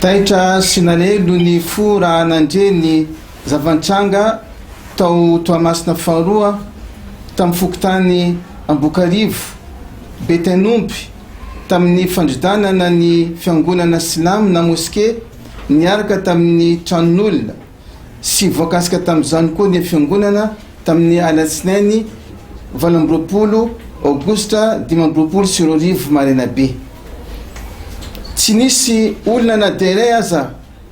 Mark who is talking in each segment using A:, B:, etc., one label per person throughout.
A: Taitra sy nalelo ny fo raha nandre ny zava-nitranga tao Toamasina faharoa, tamin'ny fokontany Ambokarivo, Betain'omby, tamin'ny fandrodanana ny fiangonana silamo na moske niaraka tamin'ny tranon'olona. Tsy voakasika tamin'izany koa ny Fiangonana tamin'ny alatsinainy valo amby roapolo aogositra dimy amby roapolo sy roa arivo maraina be. Tsy nisy olona na dia iray aza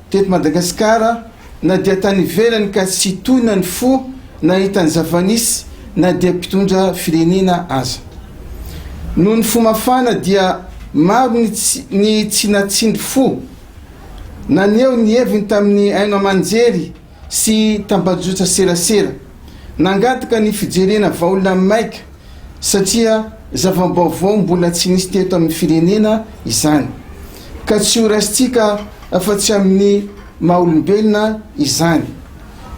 A: teto Madagasikara na dia tany ivelany ka tsy tonina ny fo nahita ny zava-nisy na dia mpitondra firenena aza. Noho ny fo mafana dia maro ny tsy natsindry fo. Naneho ny heviny tamin'ny haino aman-jery sy tambajotran-tserasera. Nangataka ny fijerena vahaolana maika satria zava-baovao mbola tsy nisy teto amin'ny firenena izany, ka tsy ho raisintsika afa-tsy amin'ny maha-olombelona izany.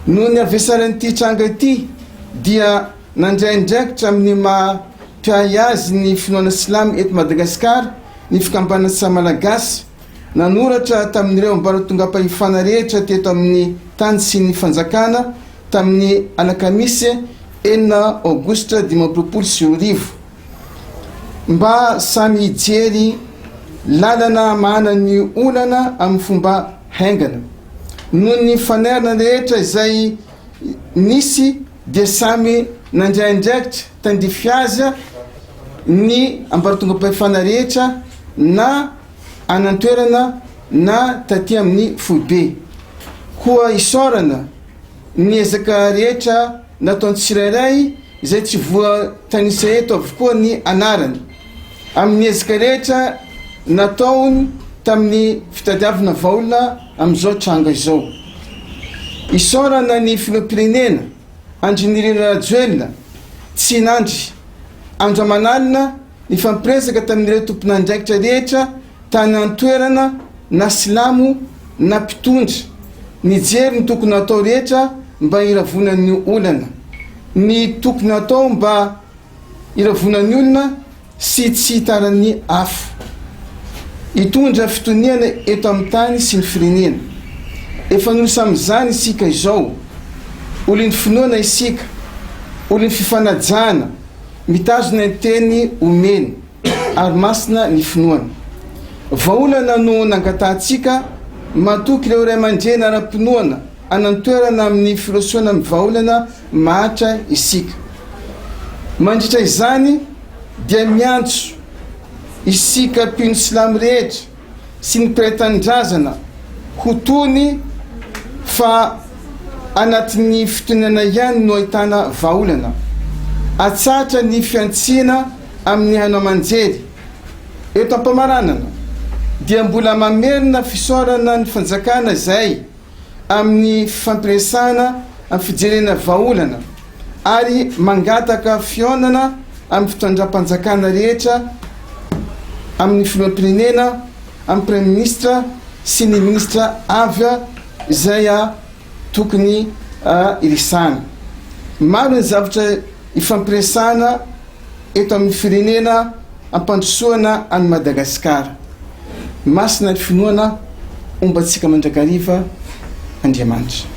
A: Noho ny havesaran'ity tranga ity dia nandray andraikitra amin'ny maha mpiahy azy ny finoana silamo eto Madagasikara ny Fikambanana Sahy Malagasy, Nanoratra tamin'ireo ambaratongam-pahefana rehetra teto amin'ny tany sy ny fanjakana tamin'ny alakamisy enina aogositra dimy amby roapolo sy roa arivo mba samy hijery lalana hamahana ny olana amin'ny fomba haingana. Noho ny fanairana rehetra izay nisy dia samy nandray andraikitra tandrify azy ny ambaratongam-pahefana rehetra na any an-toerana na taty amin'ny foibe. Koa isaorana ny ezaka rehetra nataon'ny tsirairay izay tsy voatanisa eto avokoa ny anarany, amin'ny ezaka rehetra nataony tamin'ny fitadiavana vahaolona amin'izao tranga izao. Isaorana ny Filoham-pirenena. Andry Nirina Rajoelina, Tsinandry, Andramanalina nifampiresaka tamin'ireo tomponandraikitra rehetra tany an-toerana na silamo na mpitondra, nijery ny tokony hatao rehetra mba hiravonan'ny olana, ny tokony hatao mba hiravonan'ny olona sy tsy hitanan'ny afo. Hitondra fitoniana eto amin'ny tany sy ny firenena. Efa nosy amin'izany isika izao. Olon'ny finoana isika, olon'ny fifanajana, mitazona ny teny omeny, ary masina ny finoana. Vahaolana no nangatahantsika, matoky ireo ray aman-dreny ara-pinoana hanan-toerana amin'ny firosoana amin'ny vahaolana mahantra isika. Mandritra izany dia miantso isika mpino silamo rehetra sy ny mpiray tanindrazana ho tony fa anatin'ny fitonana ihany no ahitana vahaolana. Atsahatra ny fihantsiana amin'ny haino aman-jery. Eto am-pamaranana dia mbola mamerina fisaorana ny fanjakana izay. amin'ny fifampiresahana amin'ny fijerena vahaolana ary mangataka fihaonana amin'ny fitondram-panjakana rehetra, amin'ny filoham-pirenena, amin'ny praiminisitra sy ny minisitra avy izay tokony hiresahana. Maro ny zavatra ifampiresahana. eto amin'ny firenena ampandrosoana an'i Madagasikara. Masina ny finoana, ombantsika mandrakariva Andriamanitra.